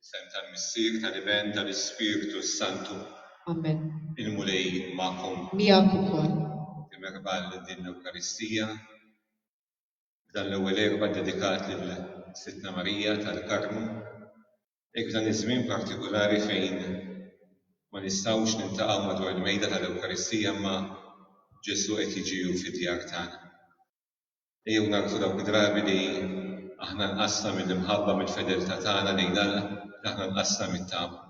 Fl-isem tal-Missier, tal-Iben, tal-Ispirtu s-Santu. Amen. Il-Mulej jkun magħkom. Miegħek ukoll. Ħuti merħba għal din l-Ewkaristija. f'dan l-ewwel Erbgħa dedikat lil Sidtna Marija tal-Karmnu, hekk f'dan iż-żmien partikulari fejn ma nistgħux niltaqgħu madwar il-mejda tal-Ewkaristija imma Ġesù qed jiġi hu fid-djar tagħna. Ejjew nagħrfu dawk id-drabi li aħna nqasna mill-imħabba, mill-fedeltà tagħna lejn Alla, li aħna nqasna mit-tama.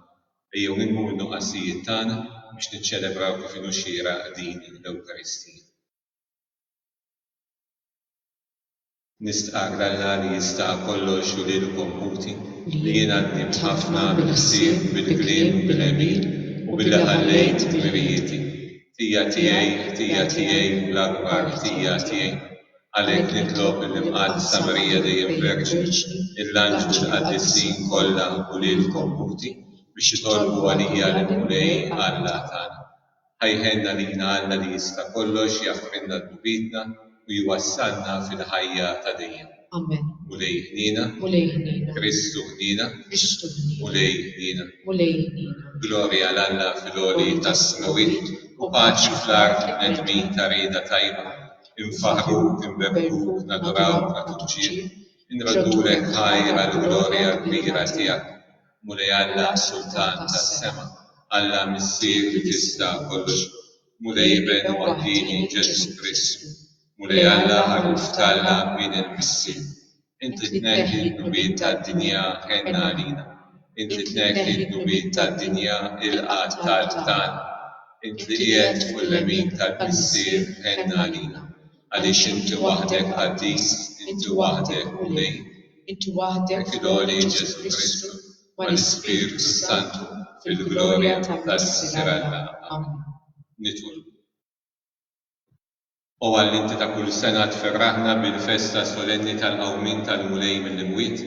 Ejjew nilmu min-nuqqasijiet tagħna biex niċċelebraw kif inhu xieraq din l-Ewkaristija. Nistqarr Alla li jista' kollox u lilkom ħuti, li jien għaddimt ħafna bil-ħsieb, bil-kliem u bil-għemil, u billi ħallejt dmirijieti. Ħtija tiegħi, ħtija tiegħi, l-akbar ħtija tiegħi. Għalhekk nitlob lill-Imqaddsa Marija Dejjem Verġni, lill-anġlu u l-qaddisin kollha u lilkom ħuti, biex titolbu għalija lill-Mulej Alla tagħna. Ħa jħenna lina Alla li jista' kollox jaħfrilna dnubitna u jwassalna fil-ħajja ta' dejjem. Amen. Mulej ħniena. Mulej ħniena. Kristu ħniena. Kristu ħniena. Mulej ħniena. Mulej ħniena. Glorja għal Alla fil-għoli tas-smewwiet u paċi fl-art lill-bnedmin ta' rieda tajba. Infaħħruk, inberbkuk, nadurawk, nagħtuk ġieħ. Inroddulek ħajr għall-glorja kbira tiegħek. Mulej Alla Sultan tas-sema, Alla Missier li tista' kollox, Mulej Iben waħdieni Ġesù Kristu, Mulej Alla Ħaruf t'Alla Bin il-Missier, Inti tneħħi d-dnubiet tad-dinja ħenn għalina, Inti tneħħi d-dnubiet tad-dinja ilqa' t-talb tagħna, Int li qiegħed fuq il-lemin tal-Missier ħenn għalina. Għaliex inti waħdek qaddis, inti waħdek Mulej, inti waħdek f'għoli Ġesù Kristu mal-Ispirtu s-Santu fil-glorja tas-Sier Alla. Amen. Nitolbu. O Alla inti ta' kull sena tferraħna bil-festa solenni tal-qawmien tal-Mulej mill-imwiet,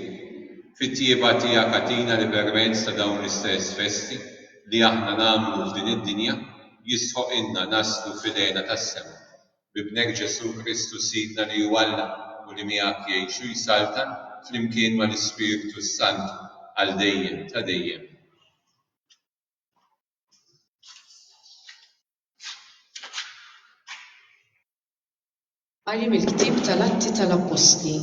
fit-tjieba tiegħek agħtina li permezz ta' dawn l-istess festi li aħna nagħmlu f'din id-dinja jistħoqilna naslu fil-għena tas-sema b'Ibnek Ġesù Kristu Sidna li hu Alla u li miegħek jgħix u jsaltan flimkien mal-Ispirtu s-Santu għal dejjem ta' dejjem. Qari mill-Ktieb tal-Atti tal-Appostli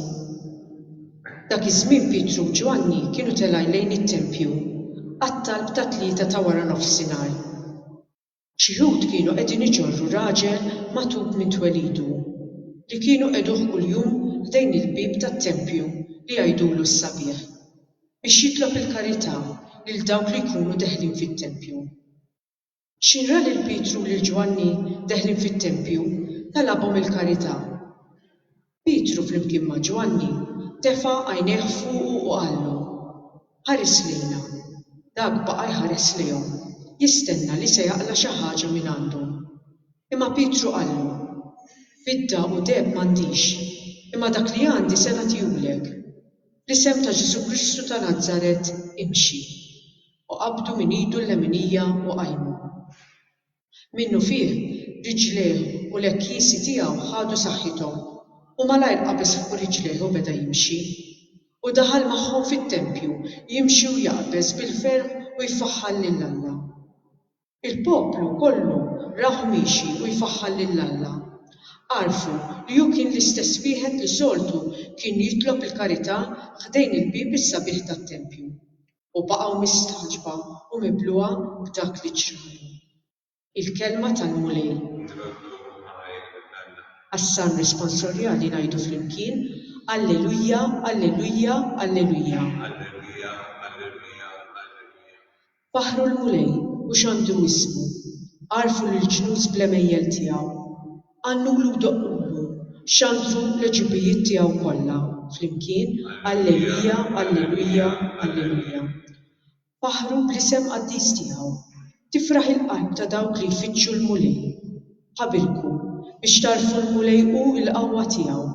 Dak iż-żmien Pietru u Ġwanni kienu telgħin lejn it-tempju għat-talb tat-tlieta ta' wara nofsinhar. Xi Lhud kienu qegħdin iġorru raġel magħtub minn twelidu, li kienu qegħduh kuljum ħdejn il-bieb tat-tempju li jgħidulu s-Sabiħ, biex jitlob il-karità lil dawk li jkunu deħlin fit-tempju. Xi ra lil Pietru u lil Ġwanni deħlin fit-tempju, talabhom il-karità. Pietru flimkien ma' Ġwanni tefa' għajnejh fuqu u qallu, Ħares lejna. Dak baqa' jħares lejhom, jistenna li se jaqla' xi ħaġa mingħandhom. Imma Pietru qallu, Fidda u deheb m'għandix, imma dak li għandi se nagħtihulek. Fl-isem ta' Ġesù Kristu ta' Nazaret, imxi. U qabdu minn idu l-leminija u qajmu. Minnufih, riġlejh u l-ekkisi tiegħu ħadu saħħithom, u malajr qabeż fuq riġlejh u beda jimxi. U daħal magħhom fit-tempju, jimxi u jaqbeż bil-ferħ u jfaħħar lil Alla. Il-poplu kollu rahu miexi u jfaħħar lil Alla. Għarfu li hu kien l-istess wieħed li soltu kien jitlob il-karità ħdejn il-bieb is-sabiħ tat-tempju. u baqgħu mistagħġba u mibluha b'dak li ġralhom. Il-kelma tal-Mulej. Għas-Salm Responsorjali ngħidu flimkien, Alleluja, alleluja, alleluja. Faħħru l-Mulej, u xandru ismu, għarrfu lill-ġnus bl-għemejjel tiegħu. Għannulu doqqulu xandru l-għeġubijiet tiegħu kollha flimkien, Allelujja, Allelujja, Allelujja. Faħħru bl-isem qaddis tiegħu. Tifraħ il-qalb ta' dawk li jfittxu l-Mulej. Ħabilku biex tagħrfu l-Mulej hu l-qawwa tiegħu.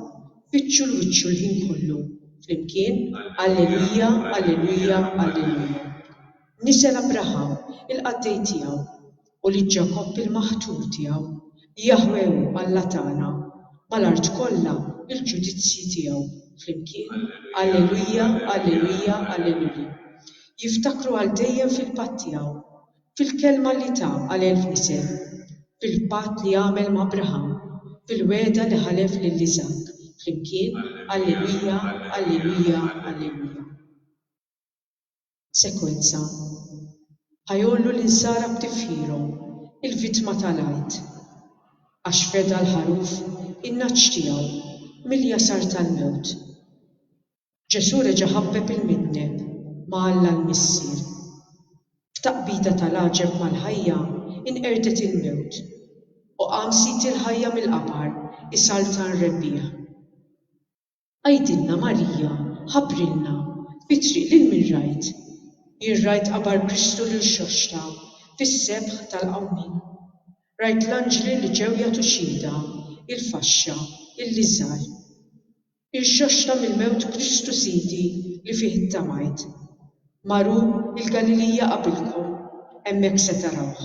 Fittxu 'l wiċċu l-ħin kollu flimkien, Allelujja, Allelujja, Allelujja. Nisel Abraham, il-qaddej tiegħu. u lil Ġakobb il-maħtur tiegħu, Jaħweh hu Alla tagħna, mal-art kollha l-ġudizzji tiegħu flimkien, Alleluja, Alleluja, Alleluja. Jiftakru għal dejjem fil-patt tiegħu, fil-kelma li ta għal elf nisel, fil-patt li għamel ma' Abraham, fil-wegħda li ħalef lil Iżakk, flimkien, Alleluja, Alleluja, Alleluja. Sekwenza, Ħa jgħollu l-insara b'tifħirhom, il-vittma tal-Għid. Għax feda l-ħaruf, in-nagħaġ tiegħu, mill-jasar tal-mewt. Ġesù reġa' ħabbeb il-midneb ma' Alla l-Missier. F'taqbida tal-għaġeb mal-ħajja inqerdet il-mewt, u qam Sid il-ħajja mill-qabar isaltan rebbieħ. Għidilna Marija, ħabbrilna, fit-triq lil min rajt? Jien rajt qabar Kristu lil xoxta, fis-sebħ tal-qawmien. Rajt l-anġli li ġew jagħtu xhieda, il-faxxa, il-liżar. Irxoxta mill-mewt Kristu Sidi li fih ittamajt. Mar hu il-Galilija qabilkom, hemmhekk se tarawh.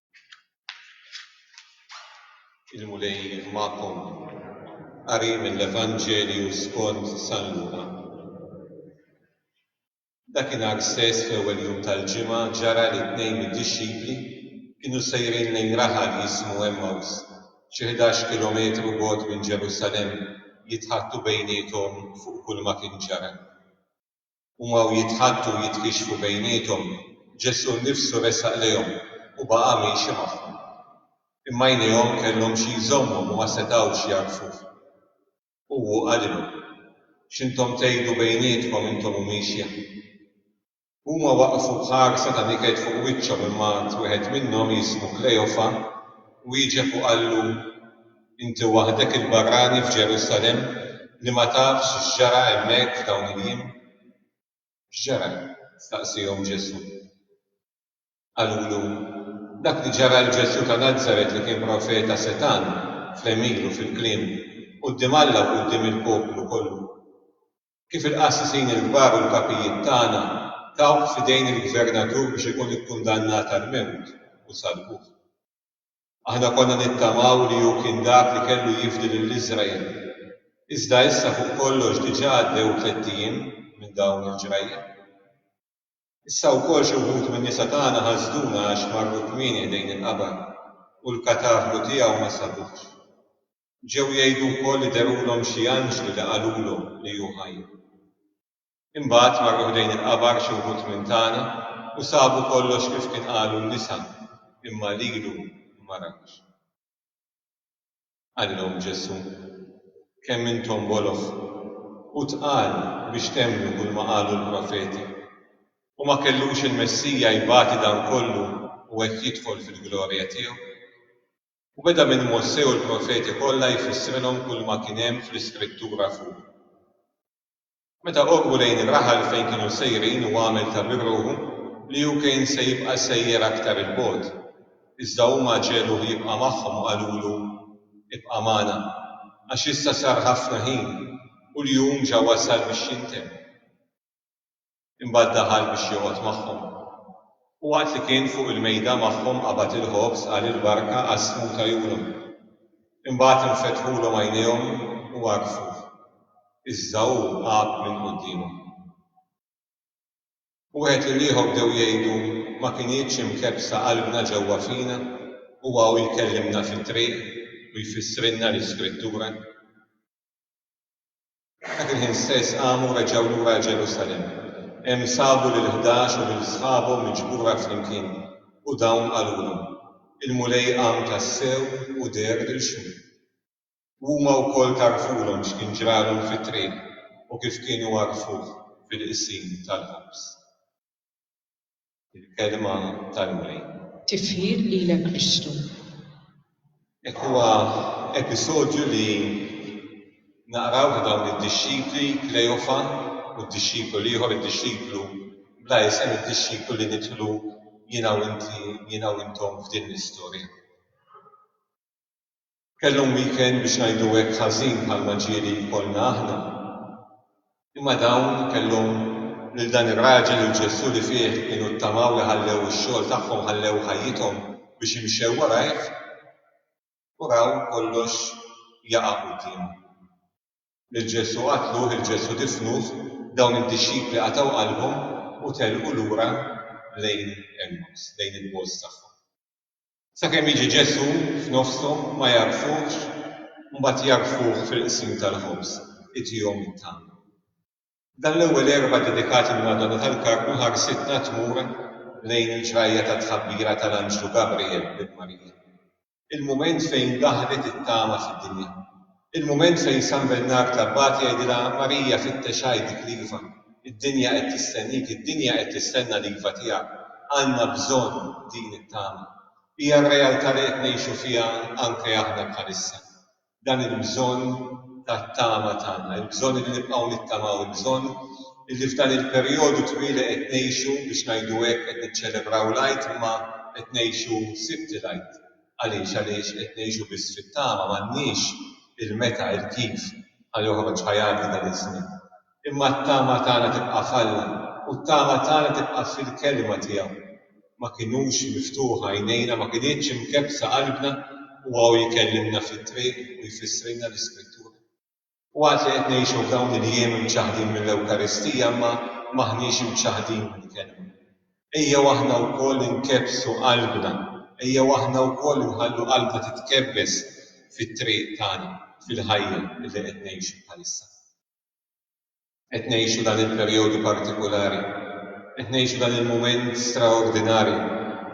Il-Mulej magħkom. Qari mill-Evanġelju skont San Luqa. Dakinhar stess fl-ewwel jum tal-ġimgħa ġara li tnejn mid-dixxipli kienu sejrin lejn raħal jismu Emmaws, xi ħdax kilometru bogħod minn Ġerusalemm, jitħaddtu bejniethom fuq kulma kien ġara. U waqgħu jitħaddtu u jitkixxfu bejniethom, Ġesù nnifsu resaq lejhom u baqa' miexi magħhom. Imma għajnejhom kellhom xi jżommhom u ma setgħux jagħrfuh. U hu qalilhom, X'intom tgħidu bejnietkom intom u miexja? Huma waqfu b'ħarsa ta' niket fuq wiċċhom imma għad wieħed minnhom jismu Klejofa wieġeb u qallu, Inti waħdek il-barrani f'Ġerusalemm li ma tafx x'ġara hemmhekk f'dawn il-jiem? X'ġara? staqsiehom Ġesù. Qalulu, Dak li ġara għal Ġesù ta' Nazaret li kien profeta setgħan fl-għemil u fil-kliem, quddiem Alla u quddiem il-poplu kollu. Kif il-qassisin il-kbar u l-kapijiet tagħna tawh f'idejn il-gvernatur biex ikun ikkundannat għall-mewt u salbuh. Aħna konna nittamaw li hu kien dak li kellu jifdi lil Iżrael. Iżda issa fuq kollox diġà għaddew tlett ijiem minn dawn il-ġrajja. Issa wkoll xi wħud min-nisa tagħna ħasduna għax marru kmieni ħdejn il-qabar u l-katavru tiegħu ma sabuhx. Ġew jgħidu wkoll li derulhom xi anġli li qalulhom li hu ħaj. Imbagħad marru ħdejn il-qabar xi wħud minn tagħna u sabu kollox kif kien qalu n-nisa, imma lilu ma rawhx. Qalilhom Ġesù, Kemm intom boloh u tqal biex temmnu kulma qalu l-profeti! U ma kellux il-Messija jbati dan kollu u hekk jidħol fil-glorja tiegħu? U beda minn Mosè u l-profeti kollha jfissrilhom kulma kien hemm fl-Iskrittura fuqu. Meta qorbu lejn ir-raħal fejn kienu sejrin u għamel ta' birruħu li hu kien se jibqa' sejjer aktar 'il bogħod. Iżda huma ġegħluh jibqa' magħhom u qalulu, Ibqa' magħna, għax issa sar ħafna ħin u l-jum ġa wasal biex jintemm. Imbagħad daħal biex joqgħod magħhom. U waqt li kien fuq il-mejda magħhom qabad il-ħobż, qal il-barka, qassmu u tajulhom. Imbagħad infetħulhom għajnejhom u għarfuh, iżda hu għab minn quddiemhom. U wieħed lill-ieħor bdew jgħidu, Ma kinitx imkebbsa qalbna ġewwa fina huwa u jkellimna fit-triq u jfissrilna l-Iskrittura? Dak il-ħin stess qamu u reġgħu lura Ġerusalemm. Hemm sabu lill-ħdax u lil sħabhom miġbura flimkien, u dawn qalulhom, Il-Mulej qam tassew u deher lil xhud. U huma wkoll tarrfulhom x'kien ġralhom fit-triq u kif kienu għarrfuh fil-Qsim tal-Ħobż. Il-kelma tal-Mulej. Tifħir lilek Kristu. Hekk huwa episodju li naqraw ta' dawn id-dixxipli, Kleofa u d-dixxiplu l-ieħor, id-dixxiplu bla isem, id-dixxiplu li nidħlu jiena u inti, jiena u intom f'din l-istorja. Kellhom weekend biex ngħidu hekk ħażin bħalma ġieli jkollna aħna. Imma dawn kellhom lil dan ir-raġel u l-Ġesù li fih kienu ttamaw li ħallew ix-xogħol tagħhom ħallew ħajjithom biex imxew warajh u raw kollox jaqa' quddiemhom. Lil Ġesù qatluh, lil Ġesù difnuh, dawn id-dixxipli qatgħu qalbhom u telqu lura lejn Emmaws, lejn il-bogħoż tagħhom. Sakemm jiġi Ġesù f'nofshom ma jagħrfuhx, mbagħad jagħrfuh fil-qsim tal-ħobż, itihom it-tama. F'dan l-ewwel erbgħa dedikat il-Madonna tal-Karmnu ħarsitna tmur lejn il-ġrajja tat-tħabbira tal-anġlu Gabriel lil Marija, il-mument fejn daħlet it-tama fid-dinja. Il-mument fejn San Bernard l-Abbat jgħidilha, Marija, fittex għajdik l-iva. Id-dinja qed tistennik, id-dinja qed tistenna l-iva tiegħek. Għandna bżonn din it-tama. Hija r-realtà li qed ngħixu fiha anke aħna bħalissa. Dan il-bżonn tat-tama tagħna, il-bżonn illi nibqgħu nittamaw, il-bżonn illi f'dan il-perjodu twil li qed ngħixu, biex ngħidu hekk, qed niċċelebraw l-Għid imma qed ngħixu Sibt il-Għid. Għaliex? Għaliex qed ngħixu biss fit-tama, m'għandniex il-meta, il-kif ħa joħroġ, ħa jgħaddi dan iż-żmien. Imma t-tama tagħna tibqa' f'Alla u t-tama tagħna tibqa' fil-Kelma tiegħu. Ma kinux miftuħa għajnejna, ma kinitx imkebbsa qalbna, Huwa hu jkellimna fit-triq u jfissrilna l-Iskrittura. Waqt li qed ngħixu f'dawn il-jiem imċaħħdin mill-Ewkaristija imma m'aħniex imċaħħdin mill-Kelma. Ejjew aħna wkoll inkebbsu qalbna, ejjew aħna wkoll inħallu qalbna titkebbes fit-triq tagħna, fil-ħajja li qed ngħixu bħalissa. Qed ngħixu dan il-perjodu partikulari, qed ngħixu dan il-mument straordinarju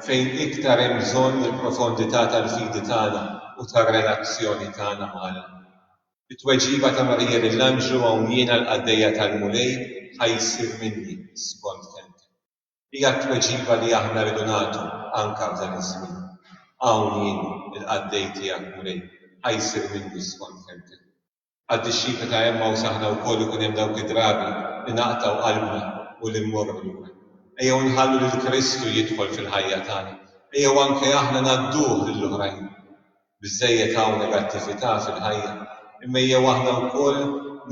fejn iktar hemm bżonn il-profondità tal-fidi tagħna u tar-relazzjoni tagħna ma' Alla. Bit-tweġiba ta' Marija lill-anġlu hawn jiena l-qaddejja tal-Mulej, ħa jsir minni skont kelmtek. Hija t-tweġiba li aħna rridu nagħtu anke f'dan iż-żmien. Hawn jien, il-qaddej tiegħek, Mulej, ħa jsir minni skont kelmtek. Għad-dixxipli ta' Għemmaws aħna wkoll ikun hemm dawk id-drabi li naqtgħu qalbna u li mmorru lura. Ejjew nħallu lil Kristu jidħol fil-ħajja tagħna. Ejjew anke aħna ngħadduh lil oħrajn. Biżżejjed hawn negattività fil-ħajja, imma ejjew aħna wkoll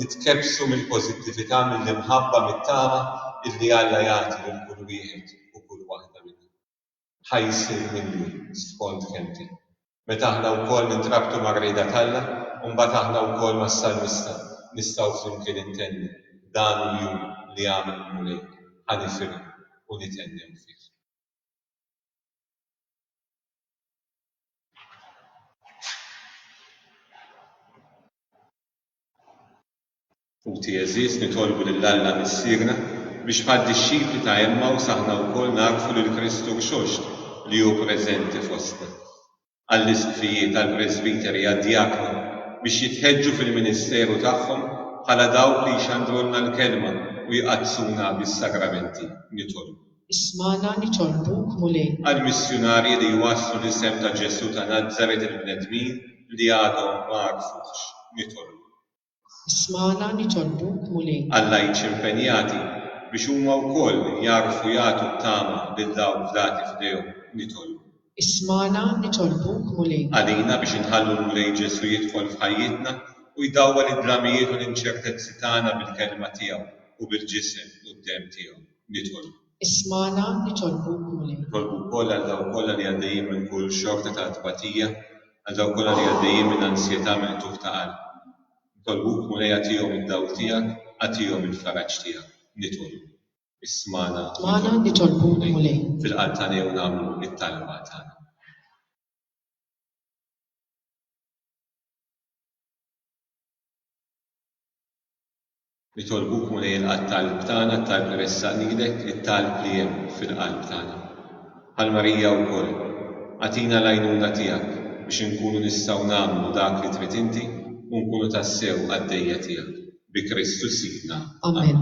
nitkebbsu mill-pożittività, mill-imħabba, mit-tama illi Alla jagħti lil kull wieħed u kull waħda minna. Ħa jsir minni skond kelmti. Meta aħna wkoll nintrabtu mar-rieda t'Alla, imbagħad aħna wkoll mas-salmista nistgħu flimkien intennu, Dan hu l-jum li għamel il-Mulej, ħa nifirħu u nithennew fih. Ħuti għeżież, nitolbu lil Alla Missierna biex bħad-dixxipli ta' Għemmaws aħna wkoll nagħrfu lil Kristu Rxoxt li hu preżenti fostna. Għall-Isqfijiet, għall-Presbiteri, għad-Djakni biex jitħeġġu fil-ministeru tagħhom bħala dawk li jxandrulna l-Kelma u jqaddsuna bis-Sagramenti, nitolbu. Ismagħna, nitolbuk, Mulej. Għall-missjunarji li jwasslu l-isem ta' Ġesù ta' Nazaret lill-bnedmin li għadhom ma għarfuhx, nitolbu. Ismagħna nitolbuk, Mulej. Għall-lajċi impenjati biex huma wkoll jagħrfu jagħtu t-tama lil dawk fdati f'idejhom nitolbu. Ismagħna nitolbuk, Mulej. Għalina biex inħallu l-Mulej Ġesù jidħol f'ħajjitna u jdawwal id-dramijiet u l-inċertezzi tagħna bil-Kelma tiegħu u bil-Ġisem u d-Demm tiegħu nitolbu. Ismagħna, nitolbuk, Mulej. Nitolbu wkoll għal dawk kollha li għaddejjin minn kull xorta ta' tbatija, għal dawk kollha li għaddejjin minn ansjetà, minn qtugħ ta' qalb. Nitolbuk, Mulej, agħtihom id-dawl tiegħek, agħtihom il-faraġ tiegħek. Nitolbu. Ismagħna, nitolbuk, Mulej. Fil-qalb tagħna jew nagħmlu t-talba tagħna. Nitolbuk, Mulej, ilqa' t-talb tagħna, t-talb li ressaq nidek, it-talb li hemm fil-qalb tagħna. Bħal Marija wkoll, agħtina l-għajnuna tiegħek biex inkunu nistgħu nagħmlu dak li trid inti u nkunu tassew qaddejja tiegħek. Bi Kristu Sidna. Amen.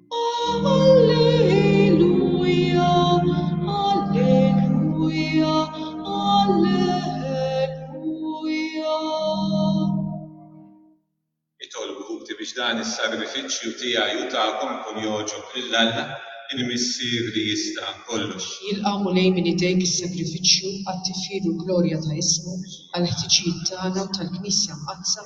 Itolbu, ħuti, biex dan is-sagrifiċċju tiegħi u tagħkom ikun jogħġob lil Alla, il-Missier li jista' kollox. Jilqa' Mulej minn idejk is-sagrifiċċju għat-tifħir u l-glorja ta' ismu, għall-ħtiġijiet tagħna u tal-Knisja Mqaddsa,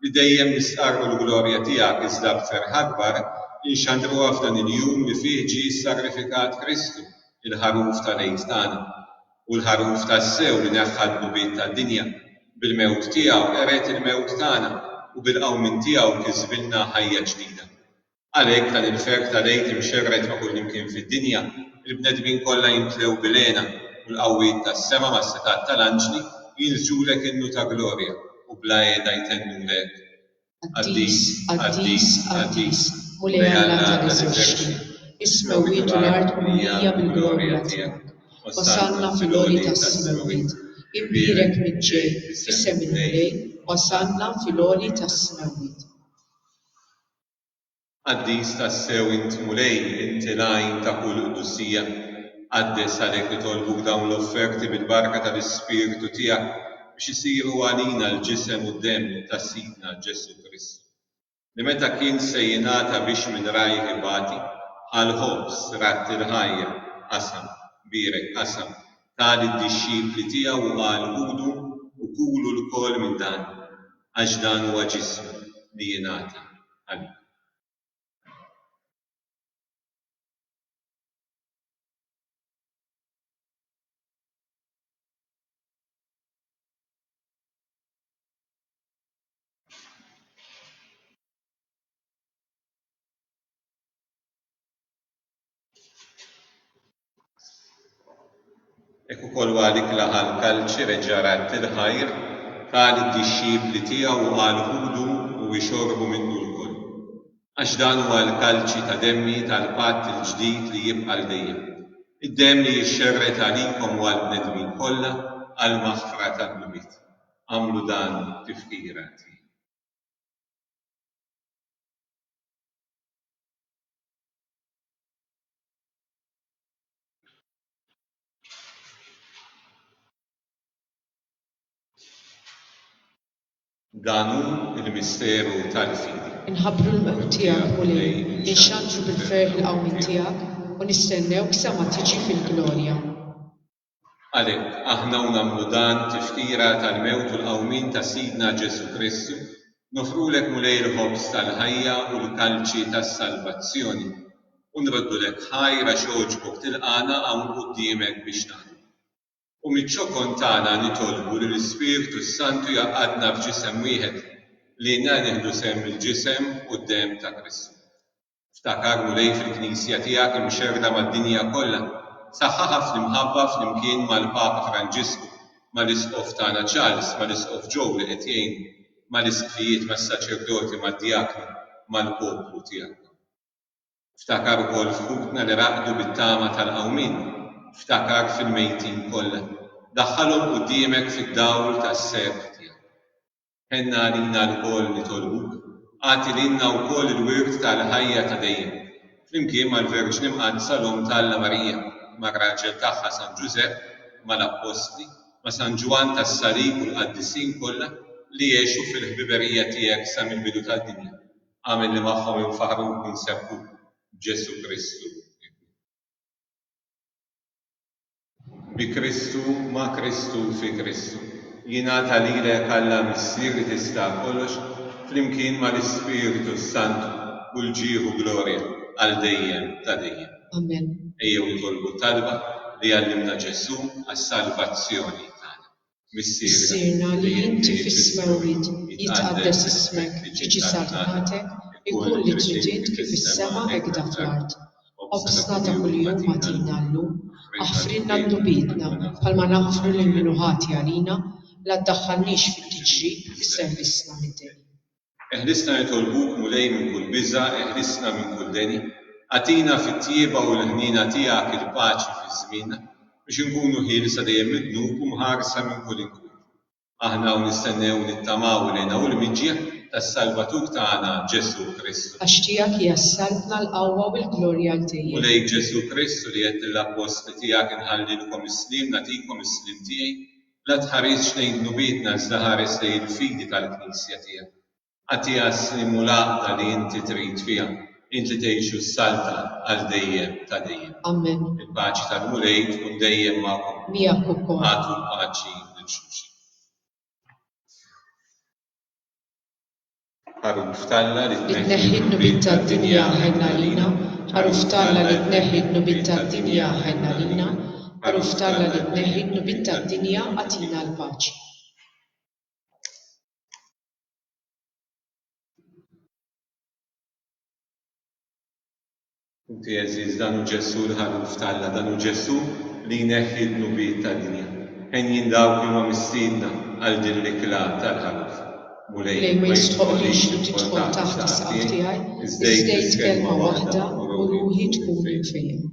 li dejjem l-istqarr u l-glorja tiegħek iżda aktar ħarbar inxandruha f'dan il-jum li fih ġie ssagrifikat Kristu, il-Ħaruf tal-Għid tagħna, u l-Ħaruf tassew li neħħa d-dnubiet tad-dinja, bil-mewt tiegħu qered il-mewt tagħna u bil-qawmien tiegħu kisbilna ħajja ġdida. Għalhekk, dan il-ferħ ta' l-Għid imxerred ma' kullimkien fid-dinja, il-bnedmin kollha jimtlew bil-hena, u l-qawwiet tas-sema mas-setgħat ta' l-anġli jinsġulek innu ta' glorja, u bla qiegħda jtennulek, Qaddis, qaddis, qaddis, Mulej Alla ta' l-eżerċti, is-smewwiet u l-art mimlija mill-glorja tiegħek. Osanna fil-għoli tas-smewwiet, imbierek min ġej f'isem il-Mulej, osanna fil-għoli tas-smewwiet. Qaddis tassew int Mulej, inti l-għajn ta' kull qdusija. Qaddes għalhekk nitolbuk dawn l-offerti bil-barka tal-Ispirtu tiegħek biex isiru għalina l-ġisem u d-demm ta' Sidna Ġesù Kristu, li meta kien se jingħata biex minn rajh ibati, ħa l-ħobż, radd il-ħajja, qasam, bierek, qasam, Ta lid-dixxipli tiegħu u qal, Ħudu u kulu lkoll minn dan, għax dan huwa ġismi li jingħata għalikom. Hekk ukoll wara dik il-laqgħa l-Kalċi reġa' radd il-ħajr, qal lid-dixxipli tiegħu u qal, Ħudu u ixorbu minnu lkoll, għax dan huwa l-kalċi ta' demmi tal-patt il-ġdid li jibqa' għal dejjem, id-demm li jixxerred għalikom u għall-bnedmin kollha għall-maħfra tad-dnubiet. Agħmlu dan f'tifkira tiegħi. Dan hu l-misteru tal-fidi. Inħabbru l-mewt tiegħek, Mulej, inxandru bil-ferħ il-qawmien tiegħek, u nistennewk sa ma tiġi fil-glorja. Għalhekk, aħna u nagħmlu dan tifkira tal-mewt u l-qawmien ta' Sidna Ġesù Kristu, nofrulek Mulej il-ħobż tal-ħajja u l-kalċi tas-salvazzjoni, u nroddulek ħajr għax għoġbok tilqagħna hawn quddiemek biex naħdmu. U miċ-ċokon tagħna nitolbu li l-Ispirtu s-Santu jgħaqqadna f'ġisem wieħed, li inna nieħdu sehem mill-ġisem u d-demm ta' Kristu. Ftakar u lejh fil-Knisja tiegħek imxerrda mad-dinja kollha, saħħaħha fl-imħabba flimkien mal-Papa Franġisku, mal-Isqof tagħna Charles, mal-Isqof Joe li qed jgħinu, mal-Isqfijiet, mas-Saċerdoti, mad-Djakni, mal-poplu tiegħek. Ftakar ukoll f'ħutna li raqdu bit-tama tal-qawmien, ftakar fil-mejtin kollha. Daħħalhom quddiemek fid-dawl tas-seheb tiegħek. Ħenna għalina lkoll nitolbuk, agħti lilna wkoll il-wirt tal-ħajja ta' dejjem, flimkien mal-Verġni Mqaddsa l-Omm ta' Alla Marija, mar-raġel tagħha San Ġużepp, mal-Appostli, ma' San Ġwann tas-Salib u l-Qaddisin kollha li għexu fil-ħbiberija tiegħek sa mill-bidu tad-dinja. Agħmilni magħhom infaħruk u nsebbħuk b'Ġesù Kristu Ibnek. bi Kristu, ma' Kristu, fi Kristu. Jingħata lilek Alla Missier li tista' kollox flimkien mal-Ispirtu s-Santu u l-ġieħ u glorja għal dejjem ta' dejjem. Amen. Ejjew nitolbu t-talba li għallimna Ġesù għas-salvazzjoni tagħna. Missierna li inti fis-smewwiet jitqaddes ismek, tiġi saltnatek, ikun li trid int kif is-sema hekk da fl-art. Qobżna ta' kuljum agħtina llum. Aħfrilna dnubietna bħalma naħfru lil min hu ħati għalina, la ddaħħalniex fit-tiġrib, isservisna mid-deni. Eħlisna nitolbuk Mulej minn kull biża' eħlisna minn kull deni, agħtina fit-tjieba u l-ħniena tiegħek il-paċi fiż-żmienna biex inkunu ħielsa dejjem mid-dnub u mħarsa minn kull inkwit. Aħna hawn nistennew u nittamaw il-għena u l-miġja tas-Salvatur tagħna Ġesù Kristu. Għax tiegħek hija s-saltna, l-qawwa u l-glorja għal dejjem. Mulej Ġesù Kristu li għedt lill-appostli tiegħek inħallilkom is-sliem nagħtikom is-sliem tiegħi, La tħarisx lejn dnubietna iżda ħares lejn il-fidi tal-Knisja tiegħek. Agħtiha s-slim u l-għaqda li inti trid fiha, int li tgħix u ssalta għal dejjem ta' dejjem. Amen. Il-paċi tal-Mulej tkun dejjem magħkom. Miegħek ukoll. Agħtu l-paċi lil xulxin. Għaruf t'Alla li tneħħi d-dnubiet tad-dinja ħenn għalina Għaruf t'Alla li tneħħi d-dnubiet tad-dinja ħenn għalina Għaruf t'Alla li tneħħi d-dnubiet tad-dinja agħtina l-paċi. Inti għeżież, dan hu Ġesù l-Ħaruf t'Alla, dan hu Ġesù li jneħħi d-dnubiet tad-dinja. Henjin dawk li huma mistiedna għal din l-ikla tal-Ħaruf. Mulej, ma jistħoqqlix li tidħol taħt is-saqaf tiegħi, iż-żejt kelma waħda u ruħi tkun imfejjma.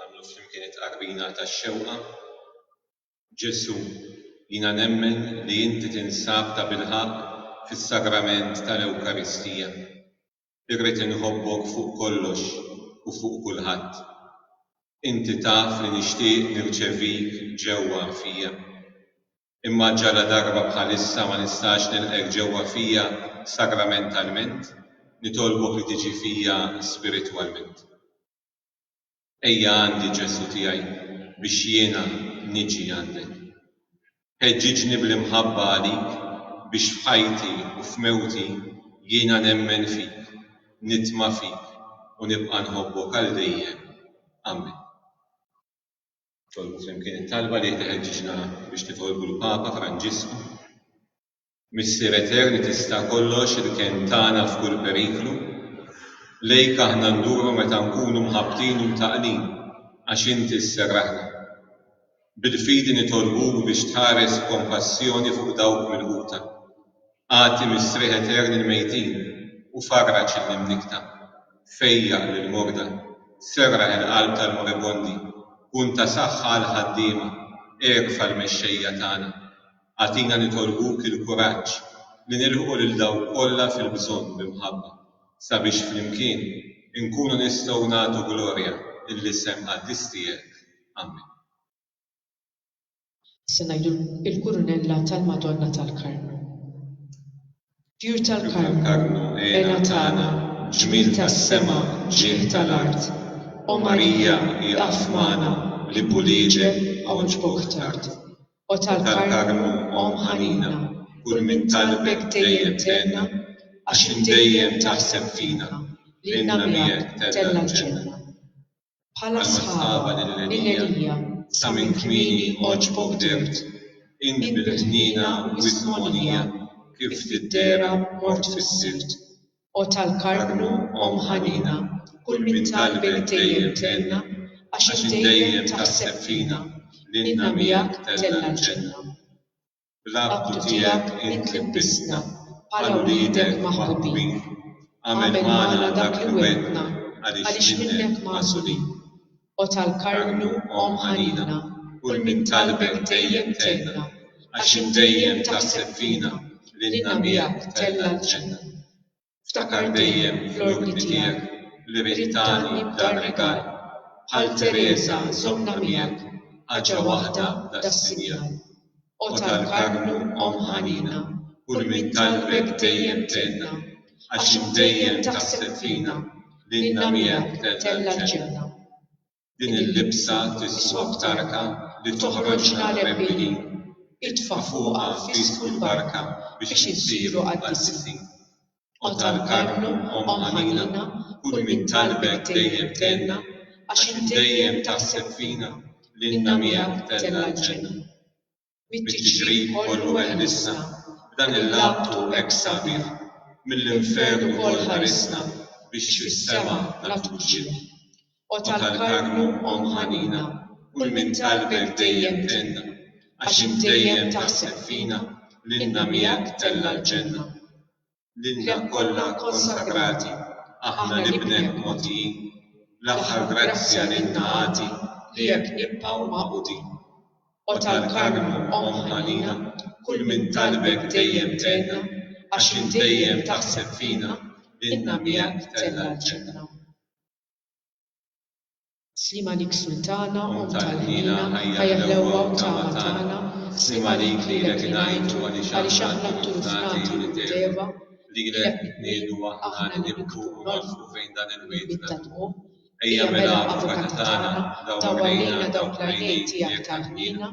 Nagħmlu flimkien it-tqarbina tax-xewqa, Ġesù, jiena nemmen li Inti tinsab tabilħaqq fis-Sagrament tal-Ewkaristija. Irrid inħobbok fuq kollox u fuq kulħadd. Inti taf li nixtieq nirċevik ġewwa fija. Imma ġaladarba bħalissa ma nistax nilqgħek ġewwa fija sagramentalment, nitolbok li tiġi fija spiritwalment. Ejja għandi, Ġesù tiegħi, biex jiena niġi għandek. Ħeġġiġni bl-imħabba għalik biex f'ħajti u f'mewti jiena nemmen fik, nitma' fik u nibqa' nħobbok għal dejjem. Amen. Tolbu flimkien it-talba li qed iħeġġiġna biex nitolbu l-Papa Franġisku. Missier Eterni tista' kollox il-kenn tagħna f'kull periklu, lejk aħna nduru meta nkunu mħabbtin u mtaqqlin għax Inti sserraħna. Bil-fidi nitolbuk biex tħares b'kompassjoni fuq dawk milquta. Agħti mistrieħ etern il-mejtin u farraġ lill-imnikkta. Fejjaq lill-morda, serraħ il-qalb tal-moribondi, kun ta' saħħa għall-ħaddiema, erfa' l-mexxejja tagħna. Agħtina nitolbuk il-kuraġġ li nilħqu lil dawk kollha fil-bżonn b'imħabba, sabiex flimkien inkunu nistgħu nagħtu glorja lill-isem qaddis tiegħek. Ammen. Se ngħidulkom il-Kurunella tal-Madonna tal-Karmnu. Tjur tal-Karmnu, għena tagħna, ġmiel tas-sema, ġieħ tal-art, O Marija, ieqaf magħna, li b'ulieġek għawġbok tard. O tal-Karmnu, omm ħanina, kull min talbek dejjem tenna, għax int dejjem taħseb fina, lilna miegħek tella' l-ġenna. bħala sħaba mill-għelija sa minn kmieni għoġbok dimt, int bil-ħniena wisq mogħnija kif tiddera mort fis-sibt. O tal-Karmnu Omm ħanina, kull min talbek dejjem tgħinna, għax int dejjem taħseb fina, lilna miegħek tella' l-ġenna. Bl-għaqdu tiegħek int libbistna bħala wliedek maħbubin. Agħmel magħna dak li wegħdtna għaliex minnek magħżulin. O tal-Karmnu, Omm ħanina, kull min talbek dejjem tenna, għax int dejjem taħseb fina, lilna miegħek tella' l-ġenna. Ftakar dejjem fl-ordni tiegħek li rrid tagħni dan rigal, bħal Tereża żommna miegħek ħaġa waħda das-sinjal. O tal-Karmnu Omm ħanina, kull min talbek dejjem tgħinna, għax int dejjem taħseb fina, lilna miegħek tella' l-ġenna. Din il-libsa tiswa b'tarka li toħroġna rebbieħin. Itfa' fuqha l-fis u l-barka biex insiru qaddisin. O tal-Karmnu, Omm ħanina, kull min talbek dejjem tenna, għax int dejjem taħseb fina, lilna miegħek tella' l-ġenna. mit-tiġrib kollu eħlisna, b'dan il-laptu hekk sabiħ, mill-infern ukoll ħarisna, biex fis-sema nagħtuk ġieħ. O tal-Karmnu, Omm ħanina, kull min talbek dejjem tenna, għax int dejjem taħseb fina, lilna miegħek tella' l-ġenna. lilna kollha kkonsagrati, aħna nibnek mogħtijin, l-aħħar grazzja lilna agħti li hekk nibqgħu magħqudin. O tal-Karmnu, Omm ħanina, kull min talbek dejjem tgħinna, għax int dejjem taħseb fina, lilna miegħek tella' l-ġenna. Sliem għalik Sultana, Omm tal-ħniena, Ħajja ħlewwa u tama tagħna, Sliem għalik lilek ingħidu għaliex aħna t-turufnati u l-iteba, Lilek nitniegħdu aħna li nibku u nolfqu fejn dan il-wied ta' dmugħ, Ejja mela Avukat tagħna, dawwar lejna dawk l-għajnejn tiegħek tal-ħniena,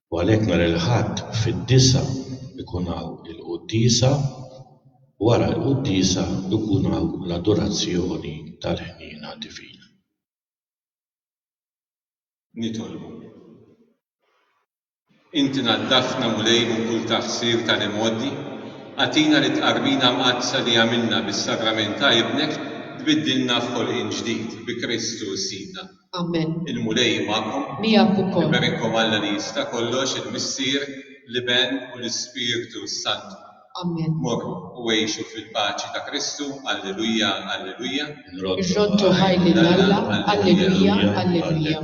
u għalhekk nhar il-Ħadd fid-disgħa jkun hawn il-quddiesa, wara l-quddiesa jkun hawn l-adorazzjoni tal-Ħniena Divina. Nitolbu. Inti naddafna Mulej minn kull taqsir ta' l-imgħoddi, agħtina li t-tqarbina mqaddsa li għamilna bis-Sagrament ta' Ibnek tbiddilna f'ħolqien ġdid bi Kristu Sidna. Amen. Il-Mulej hu magħkom. Miegħek ukoll. Iberikkom Alla li jista' kollox, il-Missier, l-Iben u l-Ispirtu s-Santu. Amen. Morru u għixu fil-paċi ta' Kristu, Alleluja, Alleluja. Irroddu ħaj lil Alla, Alleluja, Alleluja.